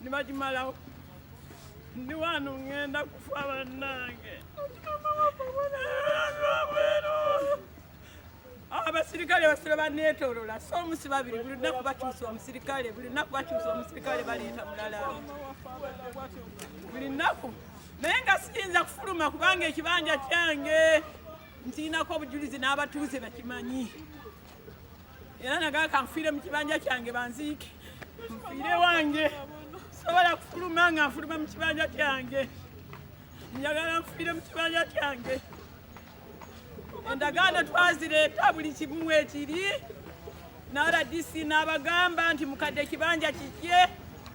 nibakimalawo ndi wano ŋŋenda kufa bannange abasirikale basira baneetolola so omusi babiri buli lunaku bakyusa omusirikale buli lunaku bakyusa omusirikale baleeta mulala buli nnaku naye nga siyinza kufuluma kubanga ekibanja kyange ntiinako obujulizi n'abatuuze bakimanyi era nagaa kanfiire mu kibanja kyange banziike nfiire wange sobola kufuluma nga nfuluma mu kibanja kyange njagala nfiire mu kibanja kyange endagaano twazireeta buli kimu ekiri naradisi n'abagamba nti mukadde ekibanja kikye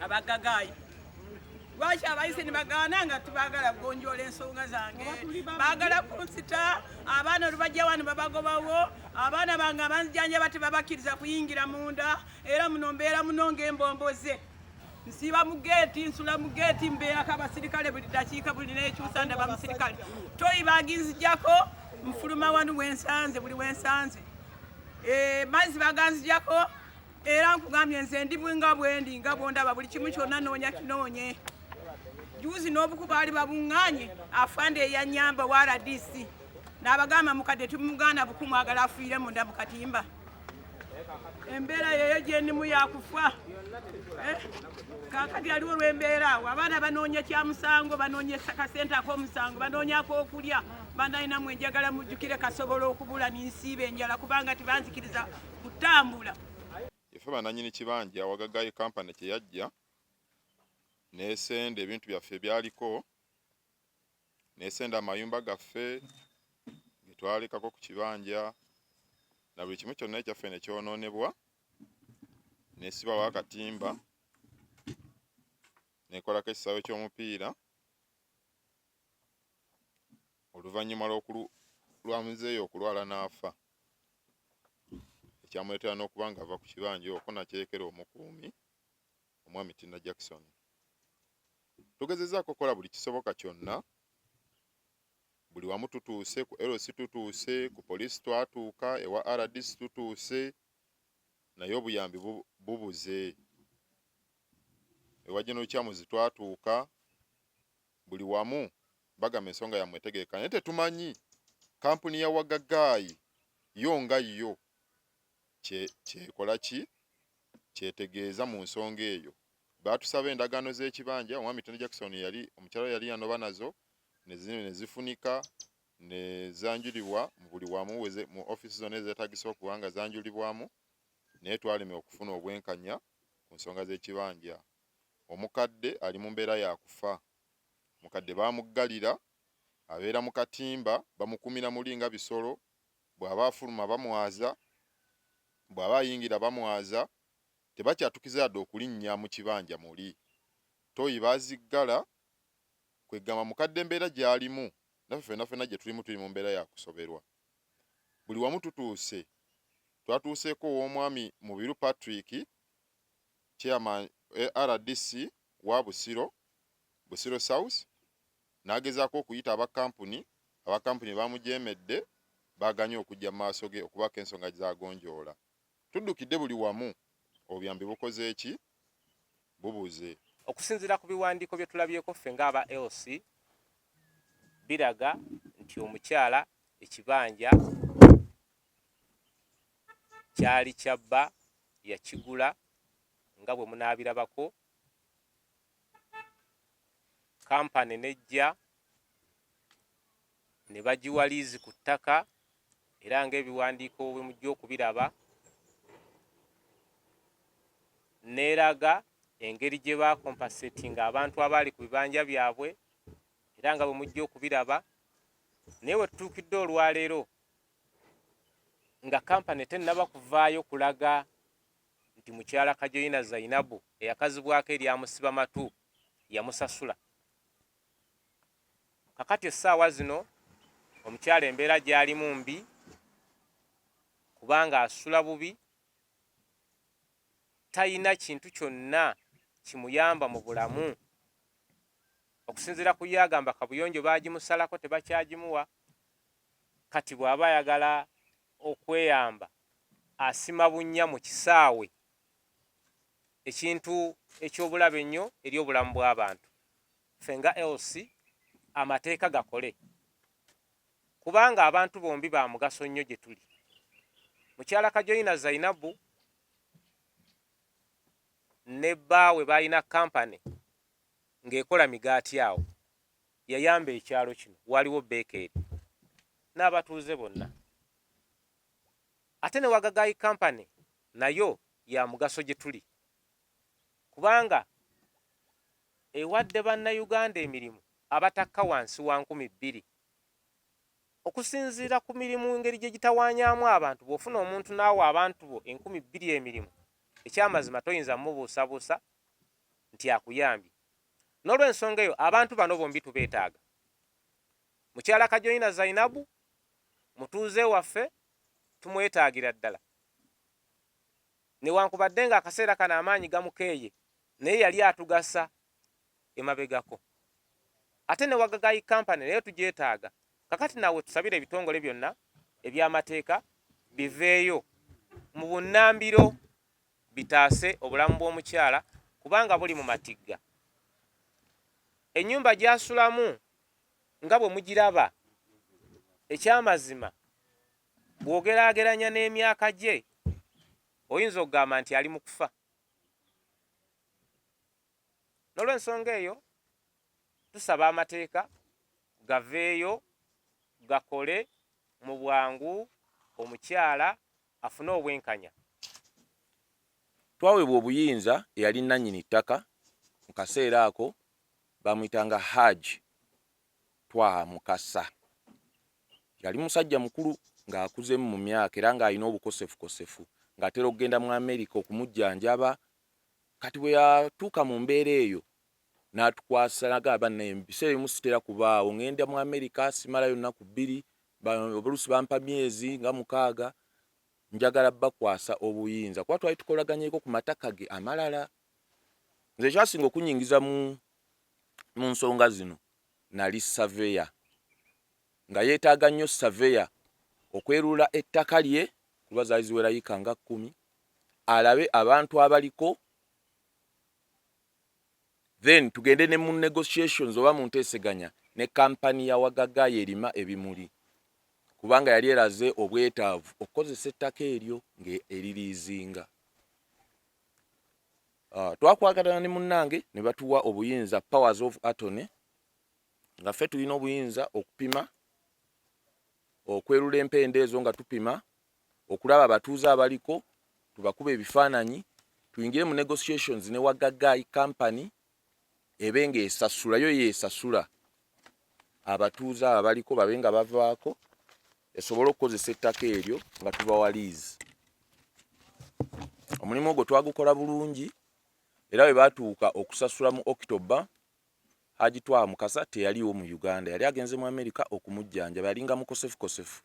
abagagayi lwaki abayise nibagaana nga tibagala kugonjoola ensonga zange bagala kunsita abaana olubajja wano babagobawo abaana bange abanzijanjaba tebabakkiriza kuyingira munda era muno mbeera muno ngaembomboze nsiiba mu geeti nsula mu geeti mbeerako abasirikale buli dakiika buli nekyusa ndaba musirikale toyi baginzijako nfuluma wanu wensanze buli wensanze eh, mazzi baganzijako era nkugambye nze ndi nga bwendi nga bwondaba buli kimu kyonna noonya kinoonye juuzi n'obuku baali babuŋŋaanye afande eyanyamba wa rdc n'abagamba mukadde tumugaana buku mwagala afiire munda mu katimba embeera yeyo gyendimu yakufa eh? kakati aliwo lwembeera awo abaana banoonya kya musango banoonya kasente ak'omusango banoonya ak'okulya banalinamu enjagala mujjukire kasobola okubula ninsiiba enjala kubanga tibanzikiriza kutambula efe bananyini kibanja awagagaye kampani kyeyajja nesenda ebintu byaffe ebyaliko nesenda amayumba gaffe getwalekako ku kibanja na buli kimu kyonna ekyaffe nekyononebwa nesibawo akatimba nekolako ekisawe kyomupiira oluvanyuma lwa muzeeyi okulwala n'afa ekyamuleetera n'okuba ng'ava ku kibanja okwo n'akyeyekera omukuumi omwami Tina Jackson. Tugezezzaako okukola buli kisoboka kyonna buli wamu tutuuse ku LC tutuuse ku poliisi twatuuka ewa RDC tutuuse naye obuyambi bubuze ewa General Kyamuzi twatuuka buli wamu bagamba ensonga yammwe etegeeka naye tetumanyi kampuni ya wagagaayi yo nga yo kyekola ki kyetegeeza mu nsonga eyo baatusaba endagaano z'ekibanja omwami Tony Jackson yali omukyala yali yanoba nazo ne zifunika ne zanjulibwa mu buli wamu mu ofiisi zonna ezeetagisa okuba nga zanjulibwamu naye twalemye okufuna obwenkanya ku nsonga z'ekibanja Omukadde ali mu mbeera ya kufa. Omukadde bamuggalira. Abeera mu katimba. Bamukuumira muli nga bisolo. Bw'aba afuluma bamwaza. Bw'aba ayingira bamwaza. Tebakyatukiza yadde okulinnya mu kibanja muli. Ttooyi baziggala. Kwe kugamba mukadde embeera gy'alimu naffe ffenna ffenna gye tulimu tuli mu mbeera ya kusoberwa. Buli wamu tutuuse. Twatuuseeko ow'omwami Mubiru Patrick. Chairman wa rdc wa Busiro, Busiro South, n'agezaako okuyita aba kkampuni, aba kkampuni baamujeemedde, baaganye okujja mu maaso ge okubaako ensonga z'agonjoola. Tuddukidde buli wamu, obuyambi bukoze ki? Bubuze. Okusinziira ku biwandiiko bye tulabyeko ffe ng'aba LC, biraga nti omukyala ekibanja Kyali kya bba, yakigula nga bwe munaabirabako. Kampani n'ejja ne bagiwa liizi ku ttaka era ng'ebiwandiiko bwe mujja okubiraba n'eraga engeri gye baakompasetinga abantu abaali ku bibanja byabwe era nga bwe mujja okubiraba naye we tutuukidde olwaleero nga kampani tennaba kuvaayo kulaga nti mukyala Kajoyina Zainabu eyakazibwako erya Musibamatu yamusasula. Kakati essaawa zino omukyala embeera gy'alimu mbi kubanga asula bubi, talina kintu kyonna kimuyamba mu bulamu. Okusinziira ku ye agamba kabuyonjo baagimusalako tebakyagimuwa, kati bw'aba ayagala okweyamba asima bunnya mu kisaawe ekintu eky'obulabe ennyo eri obulamu bw'abantu. Ffe nga LC amateeka gakole kubanga abantu bombi ba mugaso nnyo gye tuli. Mukyala Kajoyina Zainabu ne bbaawe baalina kkampani ng'ekola migaati awo. Yayamba ekyalo kino waaliwo beekeeri n'abatuuze bonna. Ate ne Wagagayi Company nayo ya mugaso gye tuli kubanga ewadde Bannayuganda emirimu abatakka wansi wa nkumi bbiri. Okusinziira ku mirimu engeri gye gitawaanyaamu abantu, bw'ofuna omuntu n'awa abantu bo enkumi bbiri emirimu, ekyamazima toyinza kumubuusabuusa nti akuyambye. N'olwensonga eyo abantu bano bombi tubeetaaga. Mukyala Kajoyina Zainabu mutuuze waffe tumwetaagira ddala. Newankubadde ng'akaseera kano amaanyi gamukeeye naye yali atugasa emabegako. Ate ne Wagagayi Company nayo tugyetaaga. Kakati nawe tusabire ebitongole byonna eby'amateeka biveeyo mu bunnambiro. bitaase obulamu bw'omukyala kubanga buli mu matigga. Ennyumba gy'asulamu nga bwe mugiraba, ekyamazima bw'ogeraageranya n'emyaka gye oyinza okugamba nti ali mu kufa. N'olwensonga eyo tusaba amateeka gaveeyo gakole mu bwangu omukyala afune obwenkanya. Twaweebwa obuyinza eyali nnannyini ttaka mu kaseera ako baamuyitanga Hajj Twaha Mukasa. Yali musajja mukulu ng'akuzemu mu myaka era ng'alina obukosefukosefu ng'atera okugenda mu Amerika okumujjanjaba. Kati bwe yatuuka mu mbeera eyo n'atukwasa n'agamba naye mu biseera ebimu sitera kubaawo ng'enda mu amerika simalayo nnaku bbiri oluusi bampa myezi nga mukaaga njagala bakwasa obuyinza kuba twali tukolaganyeko ku mataka ge amalala nze ekyasinga okunyingiza mu mu nsonga zino nali saveya nga yeetaaga nnyo saveya okwerula ettaka lye kuba zaali ziwerayika nga kkumi alabe abantu abaliko then tugende ne mu negotiations oba mu nteeseganya ne kampani ya Wagaga yerima ebimuli kubanga yali eraze obwetaavu okukozesa ettaka eryo ng'eririizinga. Uh, twakwagalana ne munnange ne batuwa obuyinza powers of atony nga ffe tulina obuyinza okupima okwerula empenda ezo nga tupima okulaba abatuuze abaliko tubakube ebifaananyi tuyingire mu negotiations ne wagagayi company ebe nga esasula yo yesasula abatuuze abo abaliko babe nga bavaako esobole okukozesa ettaka eryo nga tubawa liizi omulimu ogwo twagukola bulungi era bwe baatuuka okusasula mu okitoba haji twaha mukasa teyaliwo mu uganda yali agenze mu amerika okumujjanjaba yalinga mukosefukosefu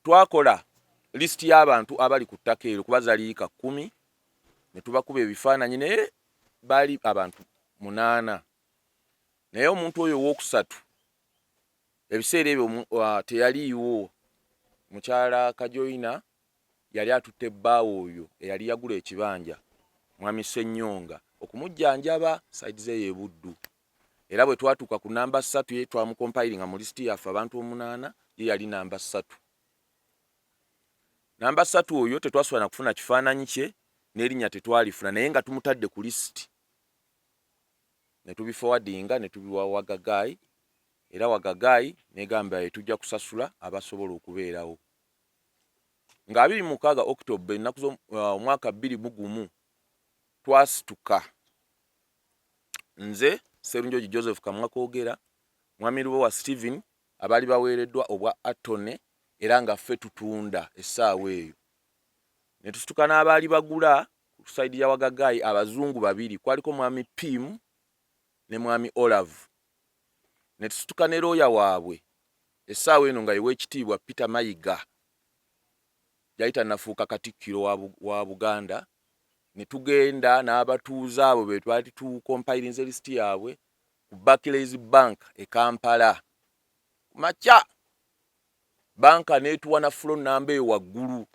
twakola lisiti y'abantu abali ku ttaka eryo kuba zali yika kkumi ne tubakuba ebifaananyi naye baali abantu munaana naye omuntu oyo owookusatu ebiseera ebyo uh, teyaliiwo mukyala kajoyina yali atutte bbaawo oyo eyali yagula ekibanja mwami senyonga okumujjanjaba saidi ze yebuddu era bwe twatuuka ku namba ssatu ye twamukompayiringa mu lisiti yaffe abantu omunaana ye yali namba ssatu namba ssatu oyo tetwasobola na kufuna kifaananyi kye n'erinnya tetwalifuna naye nga tumutadde ku lisiti ne tubifowadinga ne tubiwa wagagaayi era wagagaayi negamba ye tujja kusasula abasobola okubeerawo nga abiri mu mukaaga okitoba ennaku z'omwaka uh, bbiri mu gumu twasituka Nze Sserunjogi Joseph Kamwa Koogera, Mwami Lubowa Stephen, abaali baweereddwa obwa Attorney era nga ffe tutunda essaawa eyo. Ne tusituka n'abaali bagula ku sayidi ya Wagagaayi abazungu babiri, kwaliko Mwami Pim ne Mwami Olavu. Ne tusituka ne looya waabwe essaawa eno nga ye Weekitiibwa Peter Mayiga, yali tannafuuka Katikkiro wa Buganda ne tugenda n'abatuuze abo be twali tukompayirinze lisiti yaabwe ku Barclays Bank e Kampala ku makya. Bbanka n'etuwa na fulo nnamba eyo waggulu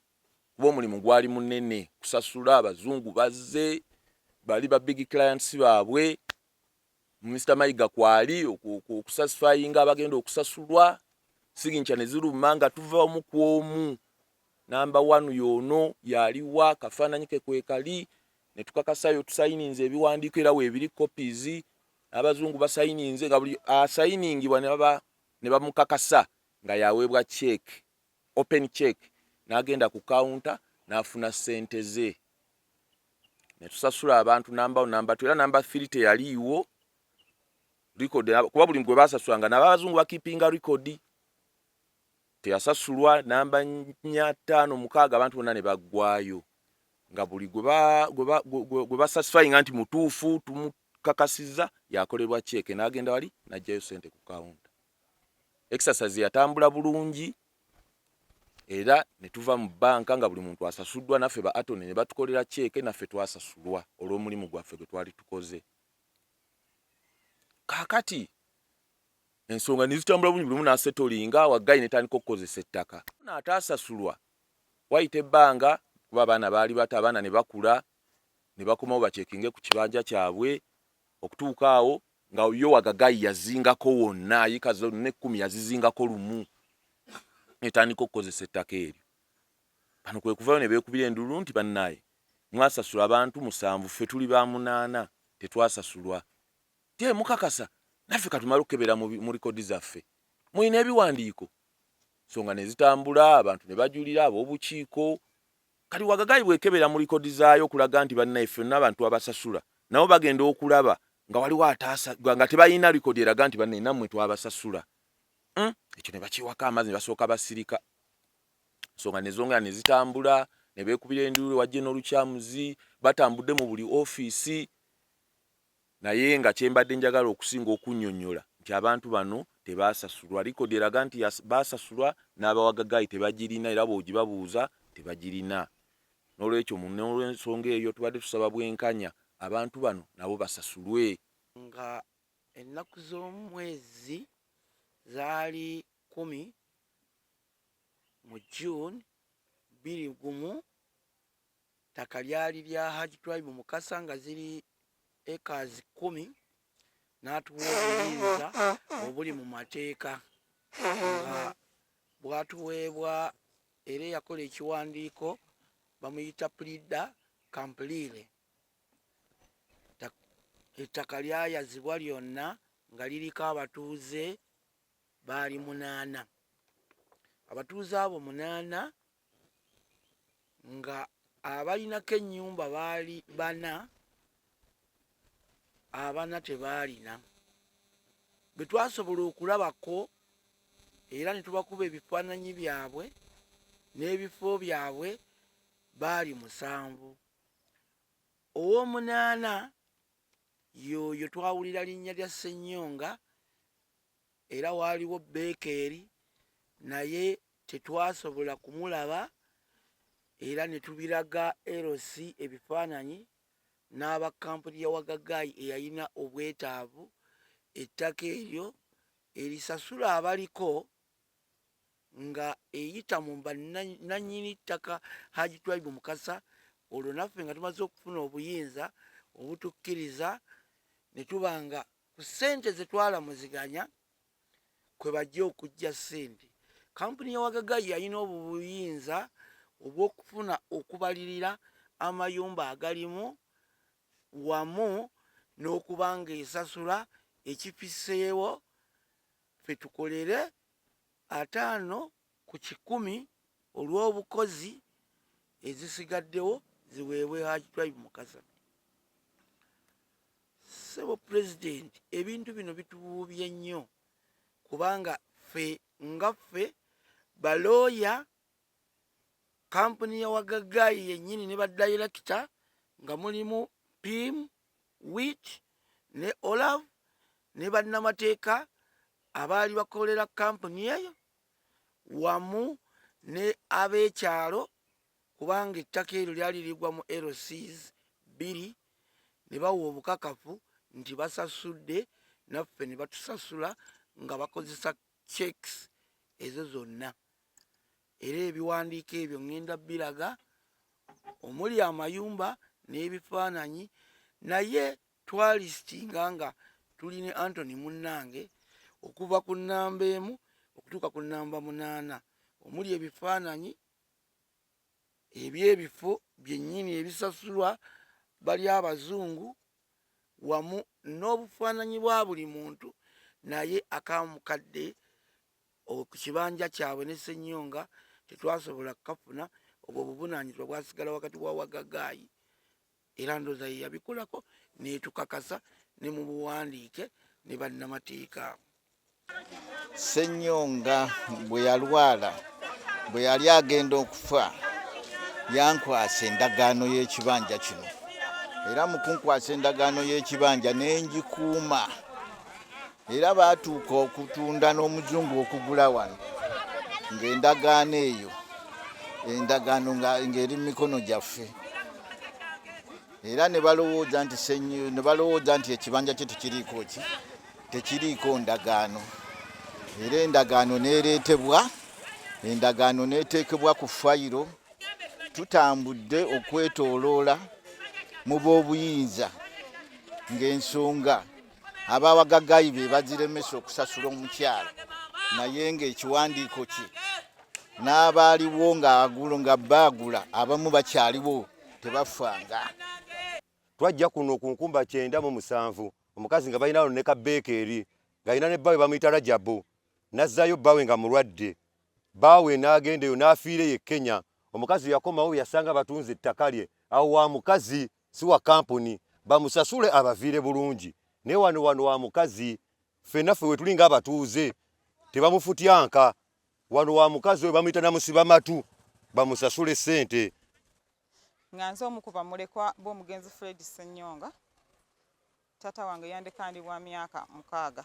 kuba omulimu gwali munene kusasula. Abazungu bazze, bali ba big clients baabwe. Mister Mayiga kwali okusatisfyinga abagenda okusasulwa signature ne ziruma nga tuva omu ku omu namba wanu yoono yaliwa kafaananyi ke kwekali ne tukakasayo tusayininze ebiwandiiko era weebiri copies abazungu basayininze nga buli asayiningibwa ne bamukakasa nga yaweebwa cheeke open check nagenda ku counter nafuna sente ze netusasula abantu number number tu era number 3 teyaliiwo record kuba buli mgwe basasula nga nabazungu bakipinga record teyasasulwa namba nya tano mukaaga abantu bonna ne baggwayo nga buli gwe basatifayinga nti mutuufu tumukakasiza yakolebwa ceeke n'agenda wali n'ajjayo sente ku kawunta exercise yatambula bulungi era ne tuva mu bbanka nga buli muntu asasuddwa naffe ba atone ne batukolera ceeke naffe twasasulwa olw'omulimu gwaffe gwe twali tukoze kaakati ensonga ne zitambula bulungi buli mu n'asetolinga waggayi ne tandika okukozesa ettaka n'ataasasulwa wayita ebbanga kuba abaana baali bato abaana ne bakula ne bakomawo bacekinge ku kibanja kyabwe okutuuka awo Nga yo wagagayi yazingako wonna yika zonna ekkumi yazizingako lumu netandika okukozesa ettaka eryo bano kwekuvayo nebekubira endululu nti banaye mwasasula abantu musanvu ffe tuli ba munaana tetwasasulwa te mukakasa naffe katumale okukebera mu likodi zaffe mulina ebiwandiiko nsonga nezitambula abantu nebajulira abobukiiko Kati Wagagayi bwekebera mu likodi zaayo okulaga nti banaye ffe tulina abantu abasasula nabo bagenda okulaba nga waliwo ataasa nga tebalina likodi eraga nti banaye namwe twabasasula uhmm ekyo nebakiwako amazi nebasooka basirika ensonga nezongera nezitambula nebekubira enduulu wajje nolukyamuzi batambudde mu buli office Naye nga kye mbadde njagala okusinga okunnyonnyola nti abantu bano tebaasasulwa. Likodi eraga nti baasasulwa n'abawa gagaayi tebagirina era bw'ogibabuuza tebagirina. N'olwekyo n'olw'ensonga eyo tubadde tusaba bwenkanya abantu bano nabo basasulwe. Nga ennaku z'omu mwezi zaali kkumi mu June bbiri gumu, Ettaka lyali lya Hajj Twaibu Mukasa nga ziri acres kkumi n'atuwa obuyinza obuli mu mateeka nga bwatuweebwa era eyakola ekiwandiiko bamuyita pulida kampuliire ettaka lyayazibwa lyonna nga liriko abatuuze baali munaana abatuuze abo munaana nga abalinako ennyumba baali bana abana tebaalina bwe twasobola okulabako era ne tubakuba ebifaananyi byabwe n'ebifo byabwe baali musanvu ow'omunaana yooyo twawulira linnya lya ssennyonga Era waaliwo Bekeeri, naye tetwasobola kumulaba, era ne tubiraga LC ebifaananyi n'aba kkampuni ya Wagagayi eyalina obwetaavu ettaka eryo erisasula abaliko nga eyita mu bannannyini ttaka Haji Twaibu Mukasa olwo naffe nga tumaze okufuna obuyinza obutukkiriza ne tuba nga ku ssente ze twalamuziganya kwe bajja okujja ssente kampuni ya wagagayi yalina obuyinza obw'okufuna okubalirira amayumba agalimu wamu n'okuba ng'esasula ekifiseewo fe tukolere ataano ku kikumi olw'obukozi ezisigaddewo ziweebwe Haji Twaibu Mukasa. Ssebo Pulezidenti, ebintu bino bitubuubye nnyo kubanga ffe nga ffe balooya kampuni ya wagagaayi yennyini ne badayirekita nga mulimu pim wit ne olav ne bannamateeka abaali bakolera kampuni eyo wamu ne ab'ekyalo kubanga ettaka eryo lyali ligwa mu LCs bbiri ne bawa obukakafu nti basasudde naffe ne batusasula nga bakozesa checks ezo zonna era ebiwandiiko ebyo ŋŋenda biraga omuli amayumba n'ebifaananyi naye twalisitinga nga tuli ne antony munnange okuva ku nnamba emu okutuuka ku nnamba munaana omuli ebifaananyi ebyebifo byennyini ebisasulwa bali abazungu wamu n'obufaananyi bwa buli muntu naye akamukadde ku kibanja kyabwe ne senyonga tetwasobola kukafuna obwo obuvunaanyizibwa bwasigala wakati wa wagagaayi era ndoza yeyabikolako netukakasa ne mu buwandiike ne bannamateeka. Ssenyonga bwe yalwala bwe yali agenda okufa yankwasa endagaano y'ekibanja kino era mu kunkwasa endagaano y'ekibanja ne ngikuuma. era baatuuka okutunda n'omuzungu okugula wano ng'endagaano eyo endagaano ng'eri mu mikono gyaffe era ne balowooza nti ne balowooza nti ekibanja kye tekiriiko ki tekiriiko ndagaano era endagaano n'ereetebwa endagaano n'eteekebwa ku fayiro tutambudde okwetooloola mu b'obuyinza ng'ensonga abawagagayi be bagiremesa okusasula omukyala naye ngaekiwandiiko kye n'abaaliwo ng'agulo nga baagula abamu bakyaliwo tebafanga twajja kuno ku nkumba kyenda mu musanvu omukazi nga balina lone kabeeka eri ng'alina ne bbawe bamuyita rajabu n'azzaayo bbawe nga mulwadde baawe n'agenda eyo n'afiire ye kenya omukazi yakomawo yasanga batunze ettaka lye awo wa mukazi si wa kampuni bamusasule abaviire bulungi naye wano wano wa mukazi ffe naffe wetuli nga abatuuze tebamufutyanka wano wa mukazi oyo bamuyita namusiba matu bamusasule sente nga nze omu ku bamulekwa b'omugenzi Fred Ssenyonga. Taata wange yandeka ndi wa myaka mukaaga.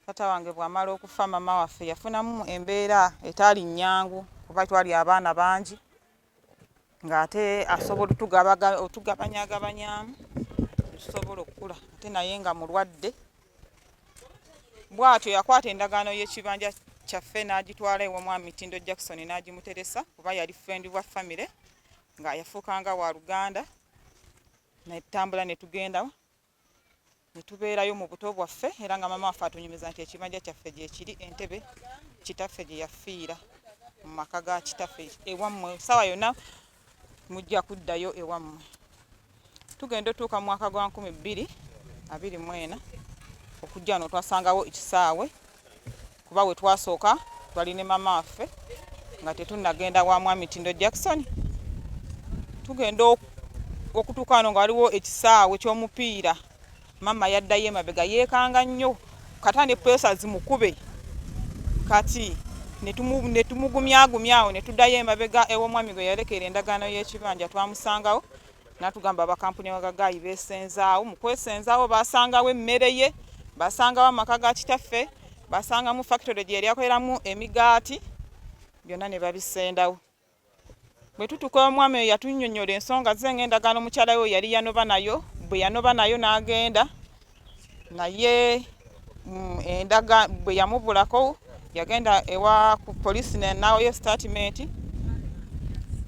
Taata wange bw'amala okufa mama waffe yafunamu embeera etaali nnyangu kuba twali abaana bangi ng'ate asobola otugabanyagabanyaamu tusobola okukula ate naye nga mulwadde bw'atyo yakwata endagaano y'ekibanja kyaffe n'agitwala ew'omwami Mitindo Jackson n'agimuteresa kuba yali ffendi wa famire nga yafuukanga wa luganda. netutambula netugenda netubeerayo mu buto bwaffe era nga maama waffe atunyumiza nti ekibanja kyaffe gyekiri entebe kitaffe gye yafiira mu maka ga kitaffe ewammwe saawa yonna mujja kuddayo ewammwe tugenda otuuka mu mwaka gwa nkumi bbiri abiri mwena okujja no twasangawo ekisaawe kuba we twasooka twali ne mama waffe nga tetunnagenda wa mwami tindo jackson tugenda okutuuka wano nga waliwo ekisaawe ky'omupiira mama yaddayo emabega yeekanga nnyo kata ne pesa zimukube kati netumugumyagumyawo netuddayo emabega ew'omwami gwe yalekera endagaano y'ekibanja twamusangawo natugamba abakampuni bagagayi besenzaawo mu kwesenzaawo basangawo emmere ye basangawo amaka ga kitaffe basangamu fakitole gye yali akoleramu emigaati byonna ne babisendawo bwe tutuka omwami oyo yatunyonyola ensonga ze ng'endagaano mukyala we yali yanoba nayo bwe yanoba nayo n'agenda naye mm, endaga bwe yamubulako yagenda ewa ku polisi nawoyo statimenti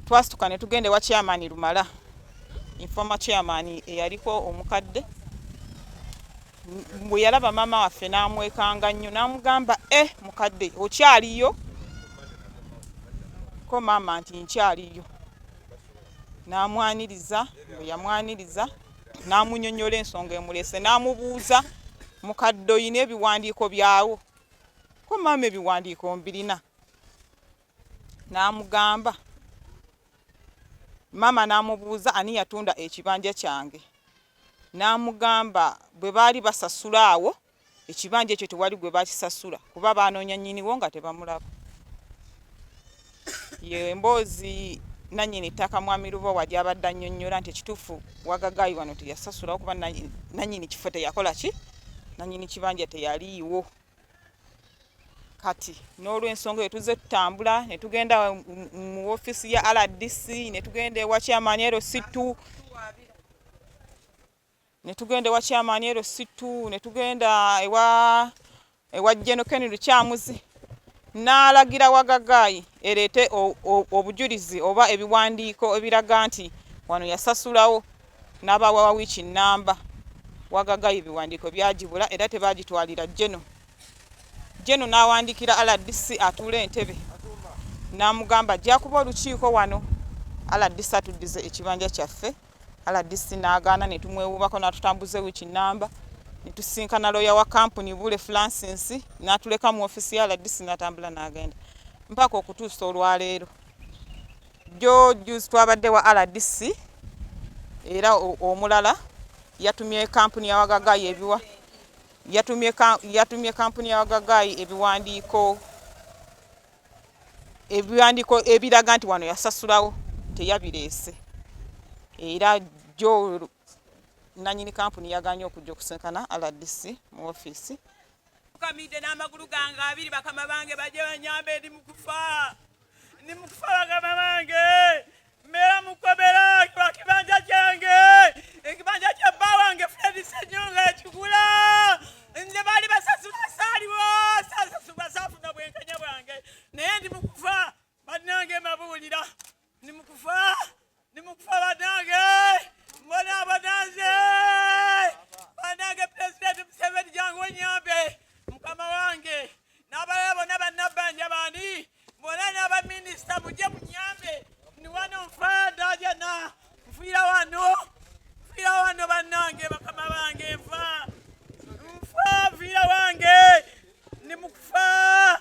twasituka ne tugenda ewa chairman lumala informa chairman eyaliko omukadde bwe yalaba maama waffe n'amwekanga nnyo n'amugamba e eh, mukadde okyaliyo ko maama nti nkyaliyo n'amwaniriza bwe yamwaniriza n'amunyonyola ensonga emulese n'amubuuza mukadde oyina ebiwandiiko byawo ko maama ebiwandiiko mbirina n'amugamba maama n'amubuuza ani yatunda ekibanja kyange n'amugamba bwe baali basasula awo ekibanja ekyo tewali gwe bakisasula kuba baanoonya nnyiniwo nga tebamulaba ye emboozi nannyini ttaka mwami lubowa gy'abadde annyonnyola nti ekituufu wagagaayi wano teyasasulawo kuba nannyini kifo teyakola ki nannyini kibanja teyaliiwo kati n'olwensonga eyo tuzze tutambula ne tugenda mu ofiisi ya rdc ne tugenda ewa kyamaani erositu ne tugenda ewa kyamaani ero sittu ne tugenda ewa ewa jeno keni lukyamuzi n'alagira wagagaayi ereete obujulizi oba ebiwandiiko ebiraga nti wano yasasulawo n'abaawa wa wiiki nnamba wagagaayi ebiwandiiko byagibula era tebaagitwalira jeno jeno n'awandiikira rdc atuula entebe n'amugamba ajja kuba olukiiko wano rdc atuddize ekibanja kyaffe rdc n'agaana ne tumwewuubako n'atutambuza ewiiki nnamba ne tusisinkana looya wa kampuni Bule Francis n'atuleka mu ofiisi ya rdc n'atambula n'agenda mpaka okutuusa olwaleero jjo juzi twabadde wa rdc era omulala yatumye kampuni ya wagagaayi ebiwa yatumye kampuni ya wagagaayi ebiwandiiko ebiwandiiko ebiraga nti wano yasasulawo teyabireese era jo nanyini kampuni yaganye okujja okusinkana rdc mu ofiisi kamidde n'amagulu gange abiri bakama bange baje banyamba eri mukufa ndi mukufa bakama bange Mbeera mu kkomera lwa kibanja kyange, ekibanja kya bba wange Fred Ssenyonga yakigula. Nze baali basasula saaliwo, sasasulwa saafuna bwenkanya bwange, naye ndi mu kufa bannange, mbabuulira ndi mu kufa, ndi mu kufa bannange, mbona abananze bannange, Pulezidenti Museveni jangu onnyambe mukama wange. n'abalala bonna bannabbanja bandi bona n'abaminisita mujje munyambe ndi wano nfaada jana nfiira wano nfiira wano bannange bakama bange nfa nfa nfiira wange ndi mukufa